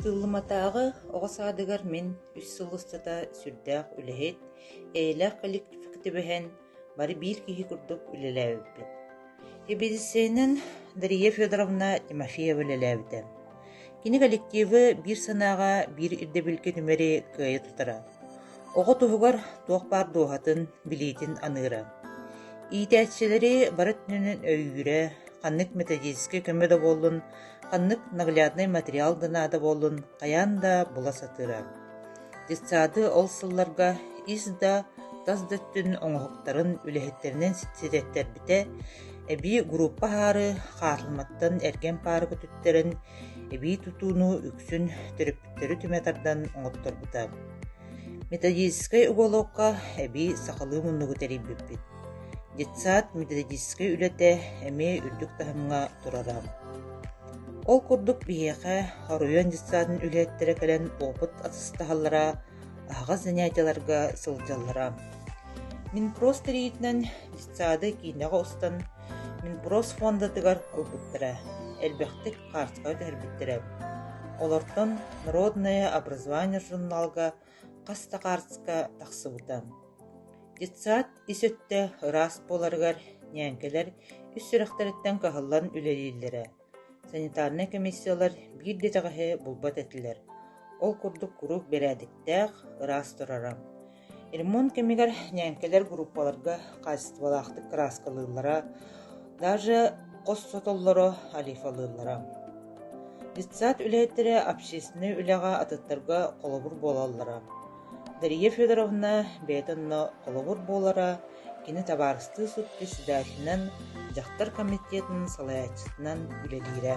Сыллыматааҕы оҕо саадыгар мин үс сыл устата сүрдээх үлэһит, эйэлээх коллективка түбэһэн, бары биир киһи курдук үлэлээбиппит. Эбиэссийэнэн Дария Федоровна Тимофеева үлэлээбитэ. Кини коллективы биир санааҕа, биир ирдэбилгэ түмэри кыайа тутара. Оҕо туһугар туох баар дууһатын, билиитин аныыра. Иитээччилэри бары өйүүрэ, ханнык методическай көмө да буоллун, Ханнык наглядный материал да наада буоллун, хайаан да була сатыыра. Детсады ол сылларга ис да, тас да өттүн оҥоһуктарын, үлэһиттэринэн ситиһиттэрбитэ, эбии группа аһаары хаартылыматтан эргэн паары көтүттэрэн, эбии тутууну үксүн төрөппүттэри түмэ тардан оҥотторбута. Методическай уголовка эбии сахалыы муннугу тэрийбиппит. Детсад методическай үлэтэ эмиэ үрдүк таһымҥа турара. Ол курдук биһиэхэ оройуон детсадын үлэһиттэрэ кэлэн опыт атастаһаллара, аһаҕас занятиеларга сылдьаллара. Минпрост тэрийиитинэн детсады киинэҕэ устан Минпрост фондатыгар ылбыттара, элбэхтик хаартыска түһэрбиттэрэ. Олортон «Народное образование» журналга хас да хаарыска тахсыбыта Детсад ис өттө ыраас буоларыгар ньээҥкэлэр ис сүрэхтэриттэн кыһаллан үлэлииллэрэ, санитарнай комиссиялар биир да итэҕэһи булбат этилэр, ол курдук куруук бэрээдэктээх, ыраас турара. Ремонт кэмигэр ньээҥкэлэр группаларга хаачыстыбалаахтык кырааскалыыллара, Даже хос сотоллоро алифалыыллара. Детсад үлэһиттэрэ общественнай үлэҕэ атыттарга холобур буолаллара. Дария Федоровна бэйэтэ онно холобур буолара, кини табаарыстыы сут председателинэн, дьахтар комитетын салайааччытынан үлэлиирэ.